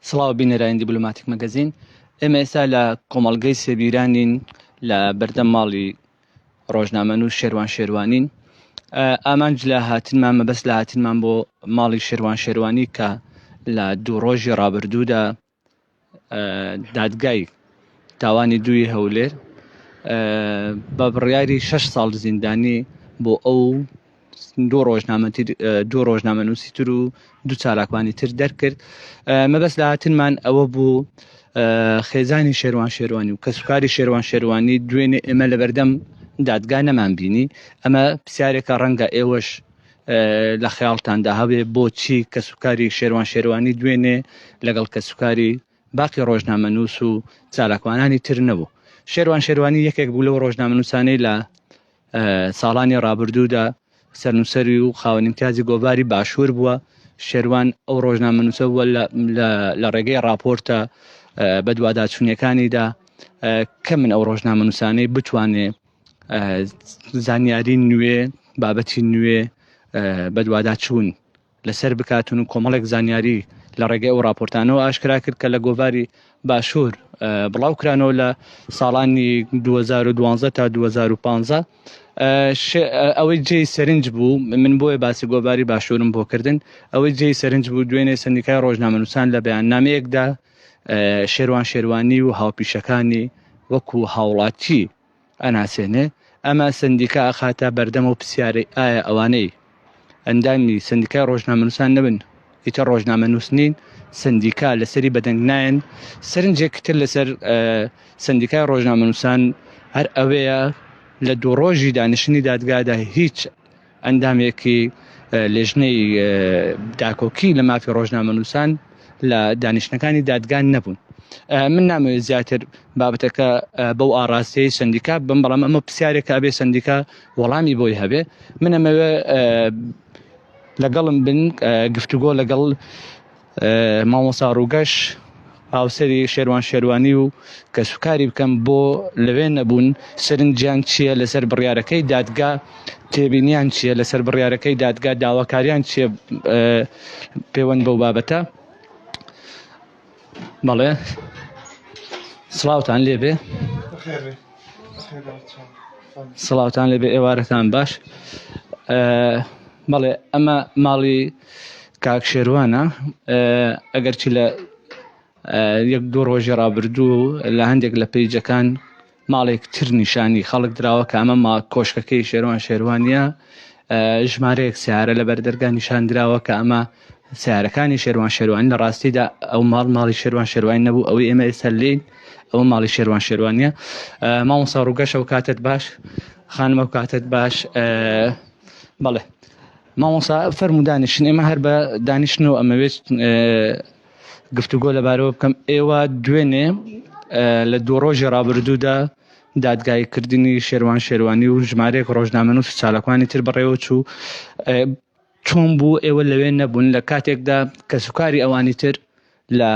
سڵاو بینەرانی دیبلۆماتیک مەگەزین ئێمە ئێستا لە کۆمەڵگەی سێبیرانین لە بەردەم ماڵی ڕۆژنامەن و شێوان شێوانین ئامانج لە هاتنمان مەبەست لە هاتنمان بۆ ماڵی شێوان شێوانی کە لە دوو ڕۆژی ڕابردوودا دادگای تاوانی دووی هەولێر بە بڕیاری شەش ساڵ زیندانی بۆ ئەو دوو ڕۆژنامەنووسی تر و دوو چالاکوانی تر دەرکرد مەبەست لە هاتنمان ئەوە بوو خێزانی شێروان شێروانی و کەسوکاری شێروان شێروانی دوێنێ ئێمە لەبەردەم دادگا نەمان بینی ئەمە پرسیارێکە ڕەنگە ئێوەش لە خەیاڵتاندا هەبێ بۆچی کەسوکاری شێروان شێروانی دوێنێ لەگەڵ کەسوکاری باقی ڕۆژنامەنووس و چالاکوانانی تر نەبوو شێروان شێروانی یەکێک بوو لەو ڕۆژنامەنووسانەی لە ساڵانی ڕابردوودا سەرنووسەری و خاوەنیمتیازی گۆڤاری باشوور بووە شێروان ئەو ڕۆژنامەنووسە بووە لە ڕێگەی ڕاپۆرتە بەدواداچوونیەکانیدا کە من ئەو ڕۆژنامەنووسانەی بتوانێ زانیاری نوێ بابەتی نوێ بەدواداچوون لەسەر بکاتون و کۆمەڵێک زانیاری لە ڕێگەی ئەو راپۆرتانەوە ئاشکرا کرد کە لە گۆڤاری باشوور بڵاو کرانەوە لە ساڵانی 2012 تا 2015 ئەوەی جێ سەرنج بوو من بۆیە باسی گۆباری باشوورم بۆ کردن ئەوەی جێ سەرنج بوو دوێنێ سندیکای ڕۆژنامەنووسان لە بەیان نامەیەکدا شێروان شێروانی و هاوپیشەکانی وەکو هاوڵاتی ئەناسێنێ ئەمە سندیکا ئەخاتە بەردەمە و پرسیاری ئایا ئەوانەی ئەندامی سندیکای ڕۆژنامەنووسان نەبن ئیتە ڕۆژنامە نووسنین سندیکا لەسەری بەدەنگ نایەن سرنجێکتر لەسەر سندیکای ڕۆژنامەنووسان هەر ئەوەیە لە دوو ڕۆژی دانیشتنی دادگادا هیچ ئەندامێکی لێژنەی داکۆکی لە مافی ڕۆژنامەنووسان لە دانیشتنەکانی دادگان نەبوون من نامەوێت زیاتر بابەتەکە بەو ئاراستەی سندیکا بم بەڵام ئەمە پرسیارێکە ئەبێ سندیکا وەڵامی بۆی هەبێ منەمەوێ لەگەڵم بن گفتوگۆ لەگەڵ مامۆسا ڕووگەش هاوسەری شێروان شێروانی و کەسوکاری بکەم بۆ لەوێ نەبوون سەرنجیان چییە لەسەر بڕیارەکەی دادگا تێبینیان چییە لەسەر بڕیارەکەی دادگا داواکاریان چیە پێوەند بەو بابەتە بەڵێ سڵاوتان لێبێ سڵاوتان لێبێ ئێوارەتان باش بەڵێ ئەمە ماڵی کاک شێروانە ئەگەرچی لە یەک دوو ڕۆژی ڕابردوو لە هەندێک لە پیجەکان ماڵێک تر نیشانی خەڵک دراوە کە ئەمە ما کۆشکەکەی شێروان شێروانە ژمارەیەک سیارە لە بەردەرگا نیشان دراوە کە ئەمە سیارەکانی شێروان شێروان لە ڕاستیدا ئەو ماڵ ماڵی شێروان شێروان نەبوو ئەوەی ئێمە ئێستا لین ئەوە ماڵی شێروان شێروانە مامۆسا ڕوگەشە و کاتت باش خانمە و کاتت باش بەڵێ مامۆسا فەرمو دانیشن ئێمە هەر بە دانیشن و ئەمەوێت گفتوگۆ لەبارەوە بکەم ئێوە دوێنێ لە دوو ڕۆژی ڕابردوودا دادگای کردنی شێوان شێوانی و ژمارێک ڕۆژنامەن و سوچالەکانی تر بڕێوە چوو چۆن بوو ئێوە لەوێ نەبوون لە کاتێکدا کە سوکاری ئەوانی تر لە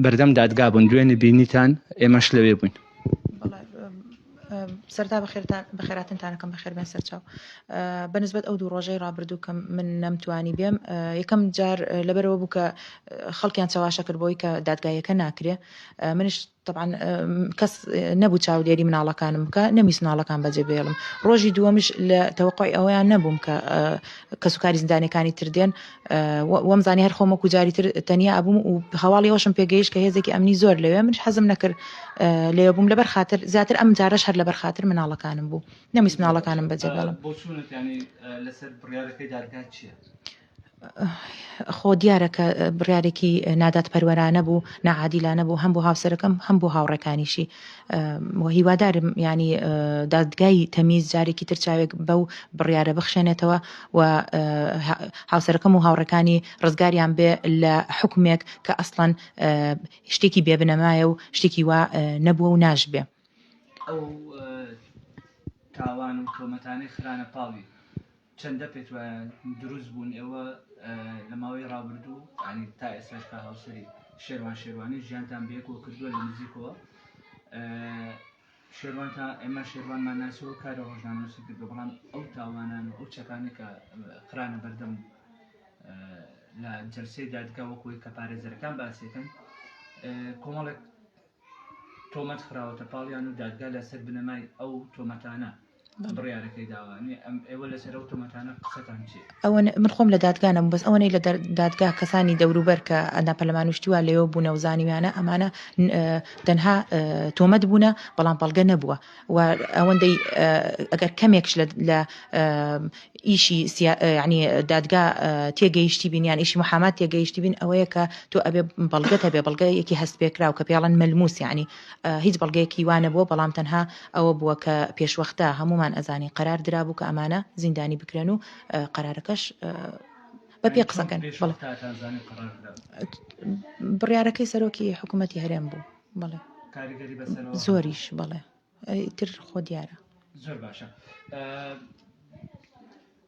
بەردەم دادگا بوون دوێ نبینیتان ئێمەش لەوێ بووین. سەرتا بەخێراتنتانەکەم بەخێربێن سەرچاو بەنسبەت ئەو دوو ڕۆژەی ڕابردوو کە من نەمتوانی بێم یەکەم جار لەبەرەوە بوو کە خەڵکیان چەواشە کرد بۆی کە دادگایەکە ناکرێ منش تەبعەن کەس نەبوو چاودێری مناڵەکانم بکە نەمیست مناڵەکان بەجێ بێڵم ڕۆژی دووەمش لە تەوەقعی ئەوەیان نەبووم کە کەسوکاری زیندانەکانی تردێن وەم زانانی هەر خۆمە کوجاری تر تەنیا ئەبووم و هەواڵی ئەوشم پێگەیش کە هێزێکی ئەمنی زۆر لەوێ منش حەزم نەکرد لێ بووم لەبەر خاطر زیاتر ئەم جارش هەر لەبەر خاطر مناڵەکانم بوو نەمیست مناڵەکانم بەجێ بێڵم بۆچونت ینی لەسەر بڕیارەکەی دادگا چیە؟ خۆ دیارە کە بڕیارێکی نادادپەروەرانە بوو ناعادیلانە بوو هەم بۆ هاوسەرەکەم هەم بۆ هاوڕێکانیشی وە هیوادارم ینی دادگای تەمیز جارێکی تر چاوێک بەو بڕیارە بخشێنێتەوە و هاوسەرەکەم و هاوڕەکانی ڕزگاریان بێ لە حکومێک کە ئەسڵەن شتێکی بێبنەمایە و شتێکی وا نەبووە و ناشبێ تاوان و تۆمەتانەی خرانە پاڵی چەندە پێت وایە دروست بوون ئێوە لە ماوەی ڕابردوو ینی تا ئێستاش کا هاوسەری شێروان شێروانی ژیانتان بەیەکەوە کردووە لە نزیکەوە شێروان تا ئێمە شێروانمان ناسەوە کارە ڕۆژنامەنووسی کردو بەڵام ئەو تاوانان و ئەو چەکانە کە خرانە بەردەم لە جەلسەی دادگا وەکوی کە پارێزەرەکان باسیەکەن کۆمەڵێک تۆمەت خراوەتە پاڵیان و دادگا لە سەر بنەمای ئەو تۆمەتانە بڕیارەکەی داوە ئێوە لەسەر ئەو تۆمەتانە قسەتان چی ئەوە من خۆم لە دادگا نەم بەس ئەوەی لە دادگا کەسانی دەوروبەر کە ئەنا پەلمانوشتی وا لەوە بوونە و زانیویانە ئەمانە تەنها تۆمەت بوونە بەڵام بەڵگە نەبووە و ئەوەندەی ئەگەر کەمێکش لە لە ئیشی ینی دادگا تێگەیشتی بین یان ئیشی محامات تێگەیشتی بین ئەوەیە کە تۆ ئەبێ بەڵگەت هەبێ بەڵگەیەکی هەست پێکراو کە پێڵەن مەلموس ینی هیچ بەڵگەیەکی وانە بووە بەڵام تەنها ئەوە بووە کە پێشوەختە هەمومان ئەزانی قەرار درابوو کە ئەمانە زیندانی بکرێن و قەرارەکەش بە پێ قسەکەن بڕیارەکەی سەرۆکی حکوومەتتی هەرێم بوو. بەڵێ کاریگەری بەسەرەوە زۆریش بەڵێ ئیتر خۆ دیارە زۆر باشە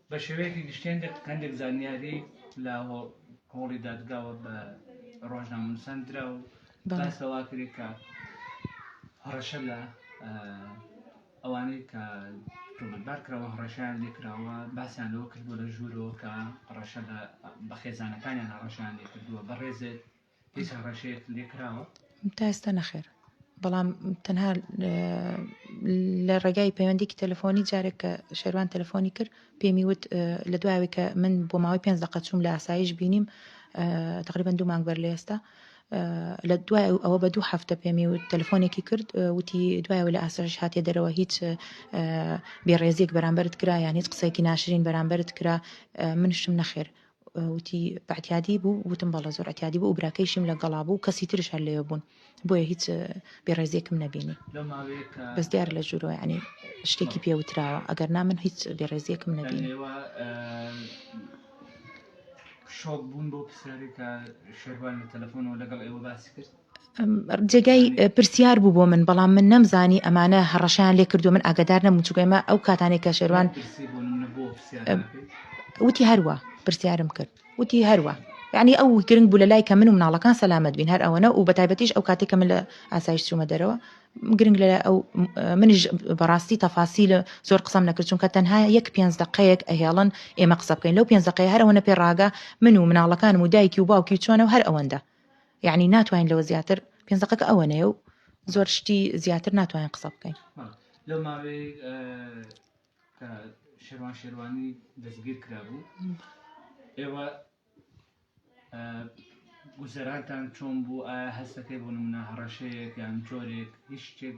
بە شێوەیەکی گشتێن هەندێک زانیاری لە هۆڵی دادگاوە بە ڕۆژنامەنووسان درا و باسەوا کرێت کە هەڕەشە لە ئەوانەی کە تۆمەتبار کراوە هەڕەشیان لێکراوە باسیان لەوە کردووە لە ژوورەوە کە ڕەشە بە خێزانەکانیان هەڕەشیان لێکردووە بەڕێزێت تا ئێستا نەخێر بەڵام تەنها لە ڕێگای پەیوەندیکی تەلفۆنی جارێک کە شێروان تەلفۆنی کرد پێمی وت لە دوایەوەی کە من بۆ ماوەی پێنج دقە چوم لە ئاسایش بینیم تقریبا دوو مانگ بەر لە ئێستا لە دوای ئەوە بە دوو هەفتە پێمی و تەلفۆنێکی کرد وتی دوایەوە لە ئاسایش هااتێ دەرەوە هیچ بێڕێزیێک بەرامبرت کرا یان هیچ قسەیەکی ناشرین بەرامبرت کرا منشم نەخێر وتی بەعتیادی بوو وتم بەڵێ زۆر عتیادی بوو و براکەیشیم لە گەڵا بوو کەسی ترش هەر لەوێ بوون بۆیە هیچ بێڕێزیەکم نەبینی بەس دیار لە جوورۆ ینی شتێکی پێوتراوە ئەگەر نا من هیچ بێڕێزیەکم نەبینی شۆک بووم بۆ پرسیارێکە شێروان لە تەلەفۆنەوە لەگەڵ ئێوە باسی کرد جێگای پرسیار بوو بۆ من بەڵام من نەمزانی ئەمانە هەڕەشەیان لێ کردووە من ئاگادار نەبووم چونکە ئێمە ئەو کاتانێک کە شێروان وتی هەروە پرسیارم کرد وتی هەروە یعنی ئەو گرنگ بوو لە لای کە من و مناڵەکان سەلامت بین هەر ئەوەنە و بە تایبەتیش ئەو کاتێک کە من لە ئاسایش چوومە دەرەوە گرنگ لە ئەو منیش بەڕاستی تەفاسی لە زۆر قسەم نەکرد چونکە تەنها یەک پێنج دقەیەک ئەهێڵن ئێمە قسە بکەین لەو پێنج دقەیە هەر ئەوەنە پێ ڕاگە من و مناڵەکانم و دایکی و باوکی و چۆنە و هەر ئەوەندە یەعنی ناتوانین لەوە زیاتر پێنج دەقەکە ئەوەنەیە و زۆر شتی زیاتر ناتوانین قسە بکەین لەو ماوەی شێوان شێوانی دەستگیر کرابوو ئێوە گوزەرانتان چۆن بوو ئایا هەستەکەی بۆ نمونە هەڕەشەیەک یان جۆرێک هیچ شتێک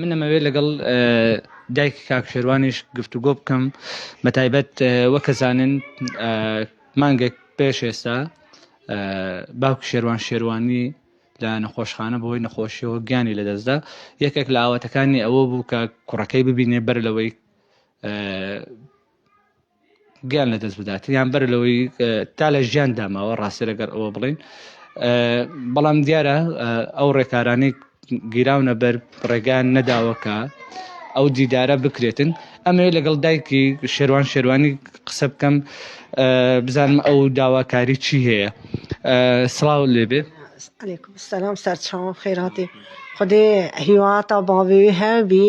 من ئەمەوێت لەگەڵ دایکی کاک شێروانیش گفتوگۆ بکەم بە تایبەت وەکە زانن مانگێک پێش ئێستا باوکی شێروان شێروانی لە نەخۆشخانە بۆی نەخۆشیەوە گیانی لەدەستدا یەکێک لە ئاواتەکانی ئەوە بوو کە کوڕەکەی ببینێ بەر لەوەی گیان لە دەست بدات یان بەر لەوەی تا لە ژیان داماوە ڕاستێ لەگەر ئەوە بڵین بەڵام دیارە ئەو ڕێکارانی گیراونە بەر ڕێگان نەداوەکە ئەو دیدارە بکرێتن ئەمەوێ لەگەڵ دایکی شێوان شێوانی قسە بکەم بزانم ئەو داواکاری چی هەیە سڵاو لێبێ سلام سەرچاو خێراتی خودێ هیواتە باوێ هەبی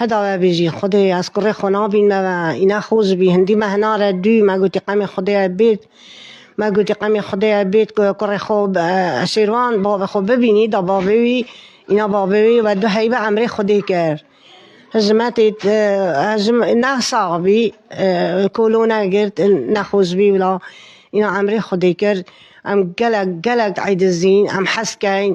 هەداوە بێژی خودێ ئەز کوڕێ خۆ نابینمەوە ئینا خۆز بی هندی مە هنارە دوی مە گوتی قەمێ خودێ بێت مە گوتی قەمێ خودێ بێت کوڕێ خۆ شێروان باوە خۆ ببینی دا باوێوی ئینا باوێوی وە دو هەیبە ئەمرێ خودێ کرد هزمەتی هزم نەساغ بی کۆلۆ نەگرت نەخۆز بی ولا ئینا ئەمرێ خودێ کرد ئەم گەلەک گەلەک عیدزین ئەم حەسکەین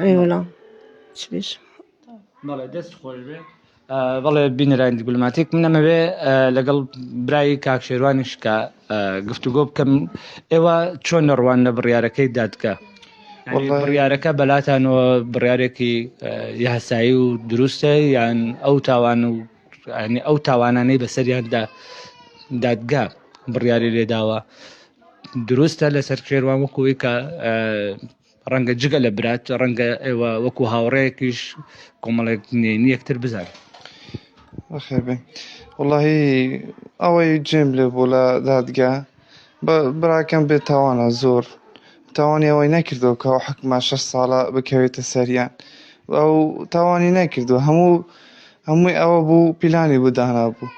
ئەیوەڵا چ بێژ بەڵێ دەست خۆش بێ بەڵێ بینەرانی دیبلوماتیک من ئەمەوێ لەگەڵ برای کاک شێروانیش کە گفتوگۆ بکەم ئێوە چۆن نەڕوان لە بڕیارەکەی دادگە بڕیارەکە بەلاتانەوە بڕارێکی یاسایی و دروستە یان ئەو تاوان و ئەو تاوانانەی بەسەریاندا دادگا بڕیاری لێداوە دروستە لەسەر کێروان وەکوی کە ڕەنگە جگە لە برات ڕەنگە ئێوە وەکو هاوڕەیەکیش کۆمەڵێک نێنی یەکتر بزان خێر بێ وڵی ئەوەی جێم لێ بۆ لە دادگا براکەم بێت تاوانە زۆر تاوانی ئەوەی نەکردەوە کە حکمە شە ساڵە بکەوێتە سەریان ئەو تاوانی نەکردو هەموو هەمووی ئەوە بوو پیلانی بۆ دانابوو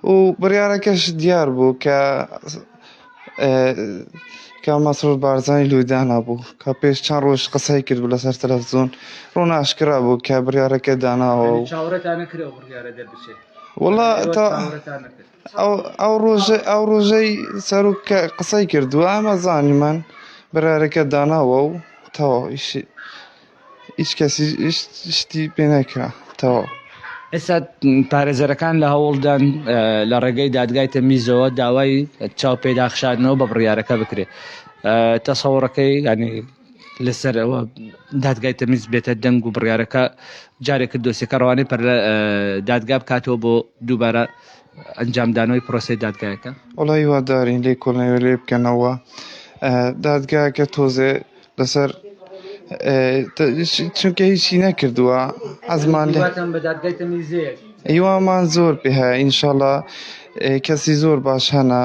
و بڕیارەکەش دیار بوو کە کە مەسرور بارزانی لوی دانابوو کە پێش چەند ڕۆژ قسەی کرد بوو لەسەر تەلەفزیۆن ڕۆن ئاشکرا بوو کە بڕیارەکە داناوە و وڵا ئەو ڕۆژە ئەو ڕۆژەی سەرک کە قسەی کردووە ئەمە زانیمان بڕارەکە داناوە و تەواویشی هیچ کەسیش شتی پێ نەکرا تەواو. ئێستا پارێزەرەکان لە هەوڵدان لە ڕێگەی دادگای تەمیزەوە داوای چاو پێداخشاردنەوە بە بڕیارەکە بکرێت تەسەوڕەکەی ینی لەسەر ئەوە دادگای تەمیز بێتە دەنگ و بڕیارەکە جارێک دۆسیەکە ڕوانەی پەر لە دادگا بکاتەوە بۆ دووبارە ئەنجامدانەوەی پرۆسی دادگایەکە وڵی وادارین لێ کۆڵنەوە لێ بکەنەوە دادگاکە تۆزێ لەسەر چونکە هیچی نەکردووە ئەزمان هیوامان زۆر پێ هەیە ئینشاالله کەسی زۆر باش هەنا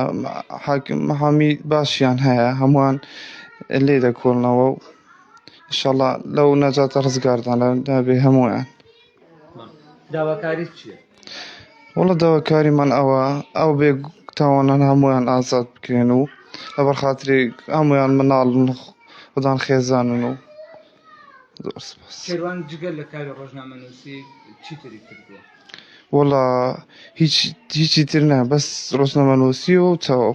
حامی باشیان هەیە هەمووان لێ دەکۆڵنەوە و شەڵا لەو نەجاتە ڕزگاردان لە دابێ هەموویان داواکاریت چیە؟ وەڵا داواکاریمان ئەوە ئەو بێ تاوانان هەموویان ئازاد بکرێن و لەبەر خاتری هەموویان مناڵن خودان خێزانن و شێروان جگە لە کاری ڕۆژنامەنووسی چیتری کردووە وەڵا هیچ هیچی تر نە بەس ڕۆژنامەنووسی و تەواو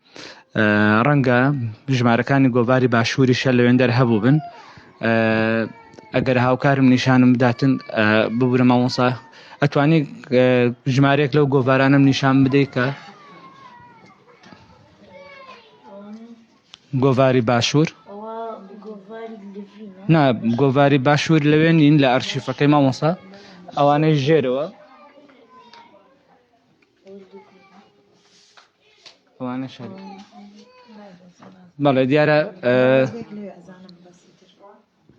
ڕەنگە ژمارەکانی گۆڤاری باشووریشە لەوێندەر هەبووبن ئەگەر هاوکارم نیشانم بداتن ببورە مامۆسا ئەتوانی ژمارەیەک لەو گۆڤارانم نیشان بدەیت کە گۆڤاری باشوور نا گۆڤاری باشوور لەوێ نین لە ئەرشیفەکەی مامۆسا ئەوانەی ژێرەوە ئەوانە شەر بەڵێ دیارە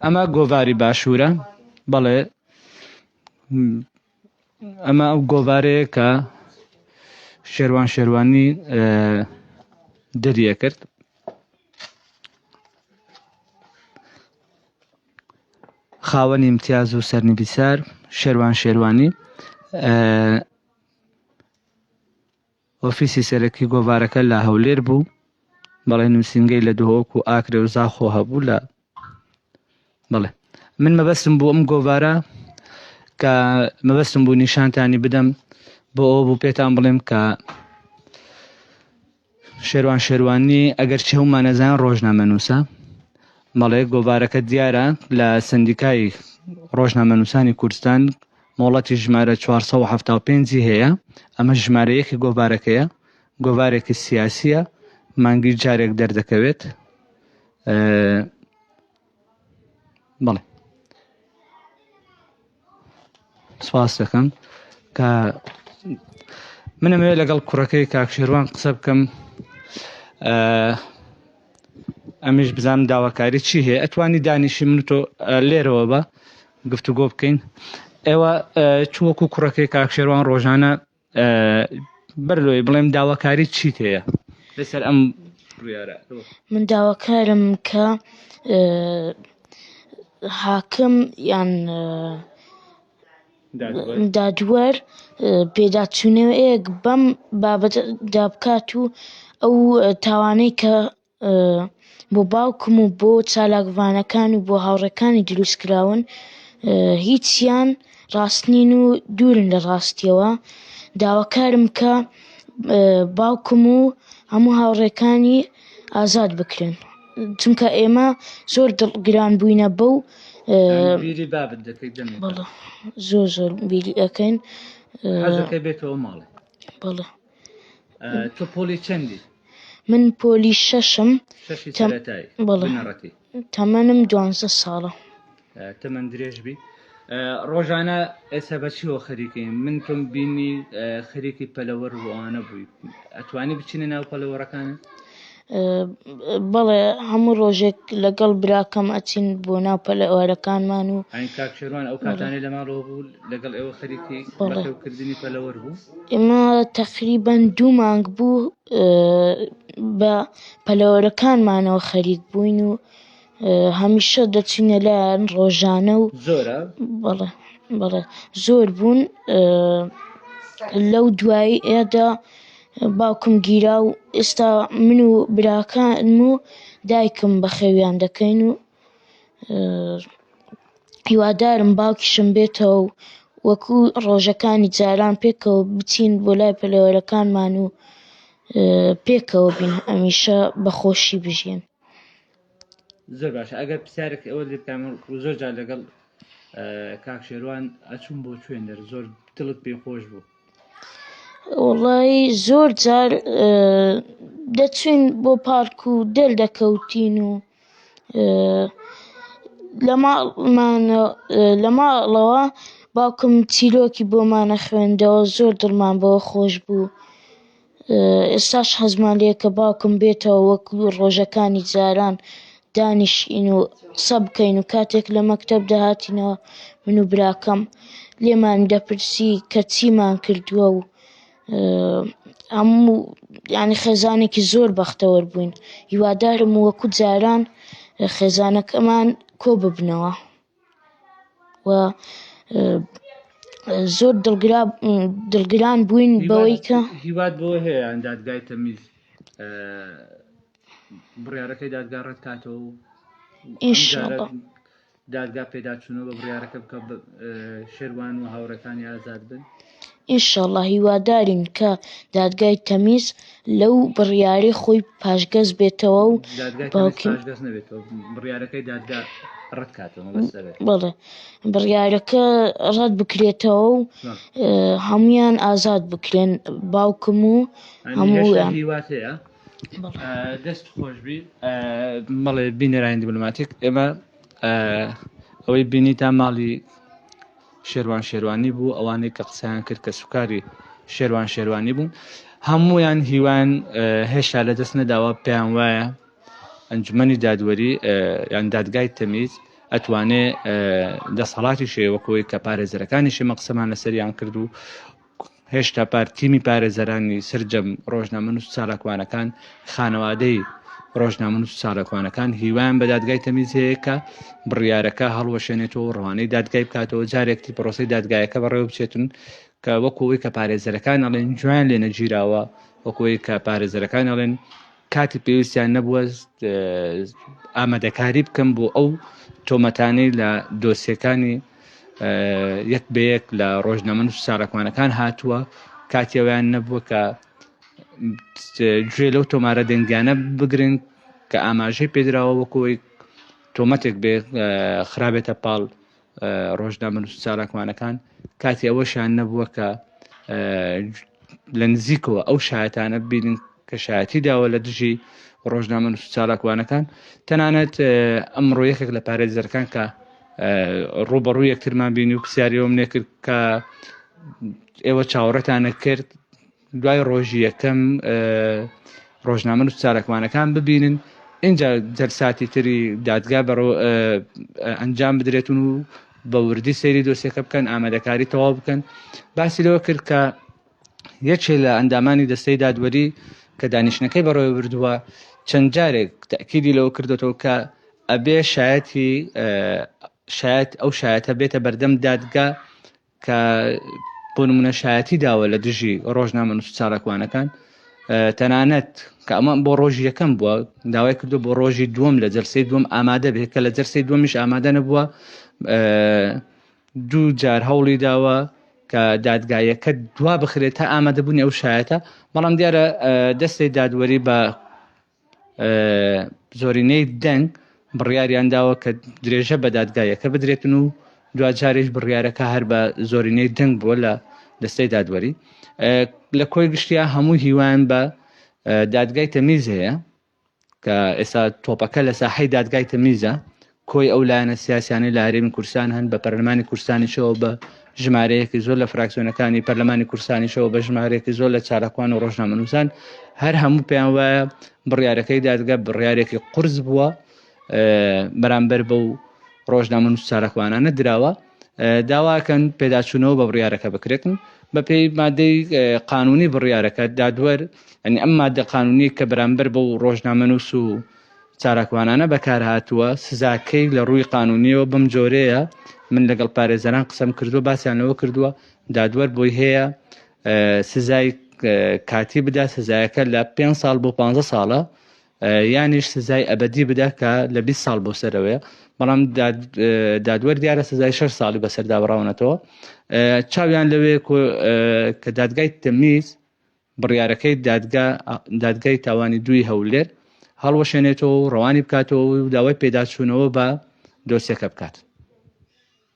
ئەمە گۆڤاری باشوورە بەڵێ ئەمە ئەو گۆڤارەیە کە شێوان شێوانی دەریە کرد خاوەنی امتیاز و سەرنیبیسار شێوان شێوانی ئۆفیسی سەرەکی گۆڤارەکە لە هەولێر بوو، بەڵێ نووسینگەی لە دهۆک و ئاکرێ و زاخۆ هەبوو لە بەڵێ من مەبەستم بوو ئەم گۆڤارە کە مەبەستم بوو نیشانتانی بدەم بۆ ئەو بوو پێتان بڵێم کە شێروان شێروانی ئەگەر چی هەمانەزان ڕۆژنامە نووسە بەڵێ گۆڤارەکە دیارە لە سندیکای ڕۆژنامە نووسانی کوردستان مۆڵەتی ژمارە چوار سەد و حەفتا و پێنج ی هەیە، ئەمە ژمارە یەکی گۆڤارەکەیە، گۆڤارێکی سیاسییە، مانگی جارێک دەردەکەوێت. بەڵێ. سپاس دەکەم کە منەمەوێت لەگەڵ کوڕەکەی کاکشێروان قسە بکەم ئەمنیش بزانم داواکاری چی هەیە ئەتوانی دانیشی من تۆ لێرەوە بە گفتوگۆ بکەین ئێوە چوەکو کوڕەکەی کاکشێوان ڕۆژانە بەر لۆی بڵێم داواکاری چی هەیە لەسەر ئەم من داواکارم کە حاکم یان دادوەر پێداچوونەوەیەک بەم بابەتەدا بکات و ئەو تاوانەی کە بۆ باوکم و بۆ چالاکڤانەکان و بۆ هاوڕێکانی دروست کراون هیچیان ڕاست نین و دوورن لە ڕاستیەوە داواکارم کە باوکم و هەموو هاوڕێکانی ئازاد بکرێن چونکە ئێمە زۆر دڵ گران بووینە بەو زۆر زۆر بیری ئەەکەین بێتەوە ماڵێ بەڵێ تۆ پۆلی چەندی من پۆلی شەشم بەڵێ تەمەنم دوانزە ساڵە تەمەن درێژ بی ڕۆژانە ئێستا بە چیەوە خەریکین من تۆم بینی خەریکی پەلەوەر وانە بووی ئەتوانی بچینە ناو پەلەوەڕەکانە بەڵێ هەموو ڕۆژێک لەگەڵ براکەم ئەچین بۆ ناو پەلەوارەکانمان و کاکشێوان ئەو کاتانەی لە ماڵەوە بوو لەگەڵ ئێوە خەریکی کردنی پەلەوەر بوو ئێمە تقریبان دوو مانگ بوو بە پەلەوەرەکانمانەوە خەریک بووین و هەمیشە دەچینە لایان ڕۆژانە و زۆرە بەڵێ بەڵێ زۆر بوون لەو دوایی ئێدا باوکم گیرا و ئێستا من و براکان و دایکم بەخێویان دەکەین و هیوادارم باوکیشم بێتەوە و وەکو ڕۆژەکانی جاران پێکەوە بچین بۆ لای پەلەوەرەکانمان و پێکەوە بین ئەمیشە بەخۆشی بژین. زۆر باشە ئەگەر پرسیارێک ئەوە لێ بکەم زۆر جار لەگەڵ کاک شێروان ئەچوون بۆ چوێندەر زۆر دڵت پێ خۆش بوو وڵی زۆر جار دەچوین بۆ پارک و دەل دەکەوتین و لە ماڵمان لە ماڵەوە باوکم چیرۆکی بۆمانە خوێندەوە زۆر دڵمان بۆ خۆش بوو. ئێستاش حەزمان لێیە کە باوکم بێتەوە وەک ڕۆژەکانی جاران دانیشین و قسە بکەین و کاتێک لە مەکتەب دەهاتینەوە من و براکەم لێمان دەپرسی کە چیمان کردووە و هەموو یعنی خێزانێکی زۆر بەختەوەر بووین هیوادارم وەکو جاران خێزانەکەمان کۆ ببنەوە. و زۆر دڵگران بووین بەوەی کە هیوات بەوە هەیە یان دادگای تەمیز بڕارەکەی دادگا ڕێت کاتەوە و دادگا پێداچوونەوە بە بڕارەکە بکە شێوان و هاوڕەکانی ئازاد بن انشاللە هیوادارین کە دادگای تەمیز لەو بڕیارەی خۆی پاشگەز بێتەوە و بەڵێ بڕیارەکە ڕەت بکرێتەوە و هەمویان ئازاد بکرێن باوکم و هەموویان دەست خۆشبی مەڵێ بینەرانی دیبلوماتیک ئێمە ئەوەی بینی تا ماڵی شێروان شێروانی بوو ئەوانەی کە قسەیان کرد کە سوکاری شێروان شێروانی بوون هەمویان هیوان هێشتا لە دەست نەداوە پێیان وایە ئەنجومەنی دادوەری یان دادگای تەمیز ئەتوانێ دەسەڵاتی شێوەکەوەی کە پارێزەرەکانی شێمە قسەمان لەسەریان کرد و هێشتا پار تیمی پارێزەرانی سەرجەم ڕۆژنامەنووس و چالاکوانەکان، خانەوادەی ڕۆژنامەنووس و چالاکوانەکان هیوایان بە دادگای تەمیز هەیە کە بڕیارەکە هەڵوەشێنێتەوە و ڕەوانەی دادگای بکاتەوە جارێک تر پرۆسەی دادگایەکە بەڕێوە بچێتن کە وەکو ئەوەی کە پارێزەرەکان ئەڵێن گوێیان لێ نەگیراوە وەکو ئەوەی کە پارێزەرەکان ئەڵێن کاتی پێویستیان نەبووەست ئامادەکاری بکەم بۆ ئەو تۆمەتانەی لە دۆسیەکانی یەک بەیەک لە ڕۆژنامەن و ساراکمانەکان هاتووە کاتیەوەیان نەبووە کە گوێ لەو تۆمارە دەنگیانە بگرن کە ئاماژەی پێدراوە وەکۆی تۆمەتێک بێ خراپێتە پاڵ ڕۆژنامەنووس و چالاکوانەکان کاتی ئەوەشیان نەبووە کە لە نزیکەوە ئەو شایەتانە ببینن کە شایەتی داوە لە دژی ڕۆژنامە نووس چالاکوانەکان تەنانەت ئەمڕۆ یەکێک لە پارێزەرەکان کە ڕوبەڕوو یەکترمان بینی و پرسیاریەوەم نێکرد کە ئێوە چاوەڕێتانە کرد دوای ڕۆژی یەکەم ڕۆژنامەنووس چالاکوانەکان ببینن ئینجا جەلساتی تری دادگا بەڕۆ ئەنجام بدرێتون و بە وردی سەیری دۆسیەکە بکەن ئامادەکاری تەواو بکەن باسی لەوە کرد کە یەکێ لە ئەندامانی دەستەی دادوەری کە دانیشتنەکەی بەڕێوە بردووە چەند جارێک تاکیدی لەوە کردوەوە کە ئەبێ شایەتی شایەت ئەو شایەتە بێتە بەردەم دادگا کە بۆ نمونە شایەتی داوە لە دژی ڕۆژنامەنووس چالاکوانەکان تەنانەت کە ئەمە بۆ ڕۆژی یەکەم بووە داوای کردو بۆ ڕۆژی دووەم لە جەرسی دوم ئامادە بێت کە لە جەرسی دومیش ئامادە نەبووە دوو جار هەوڵی داوە کە دادگایەکە دوا بخرێت تا ئامادەبوونی ئەو شایەتە بەڵام دیارە دەستی دادوەری بە زۆرینەی دەنگ بڕیاریان داوە کە درێژە بە دادگایەکە بدرێتن و دواجاریش بڕیارەکە هەر بە زۆرینەی دەنگ بووە لە دەستەی دادوەری لە کۆی گشتیا هەموو هیوان بە دادگای تەمیز هەیە کە ئێستا تۆپەکە لە ساحەی دادگای تەمیزە کۆی ئەو لایەنە سیاسیانەی لە هەرێمی کوردستان هەن بە پەرلەمانی کوردستانیشەوە بە ژمارەیەکی زۆر لە فراکسیۆنەکانی پەرلەمانی کوردستانیشەوە بە ژمارەیەکی زۆر لە چالاکوان و ڕۆژنامەنووسان هەر هەموو پێیان وایە بڕیارەکەی دادگە بڕیارێکی قرس بووە بەرامبەر بە و ڕۆژنامە نووس چالاکوانانە دراوە داواکەن پێداچوونەوە بە بڕیارەکە بکرێتن بە پێی مادەی قانونی بڕیارەکە دادوەر ئەنی ئەم مادە قانونی کە بەرامبەر بە و ڕۆژنامەنووس و چالاکوانانە بەکارهاتووە، سزاکەی لە رووی قانونییەوە بەم جۆرەیە، من لەگەڵ پارێزەران قسەم کردووە باسیان لەوە کردووە دادوەر بۆی هەیە سزای کاتی بدا سزایەکە لە پێ ساڵ بۆ پ ساڵە یانیش سزای ئەبدی بدا کە لە 20 ساڵ بۆ سەرەوەیە بەڵام دادوەر دیارە سزای 6 ساڵی بەسەرداوەڕاونەتەوە چاویان لەوێ کە دادگای تەمیز بڕیارەکەی دادگا دادگای تاوانی دووی هەولێر هەڵوەشێنێتەوە و ڕەوانی بکاتەوە و داوای پێداچوونەوە بە دۆسیەکە بکات.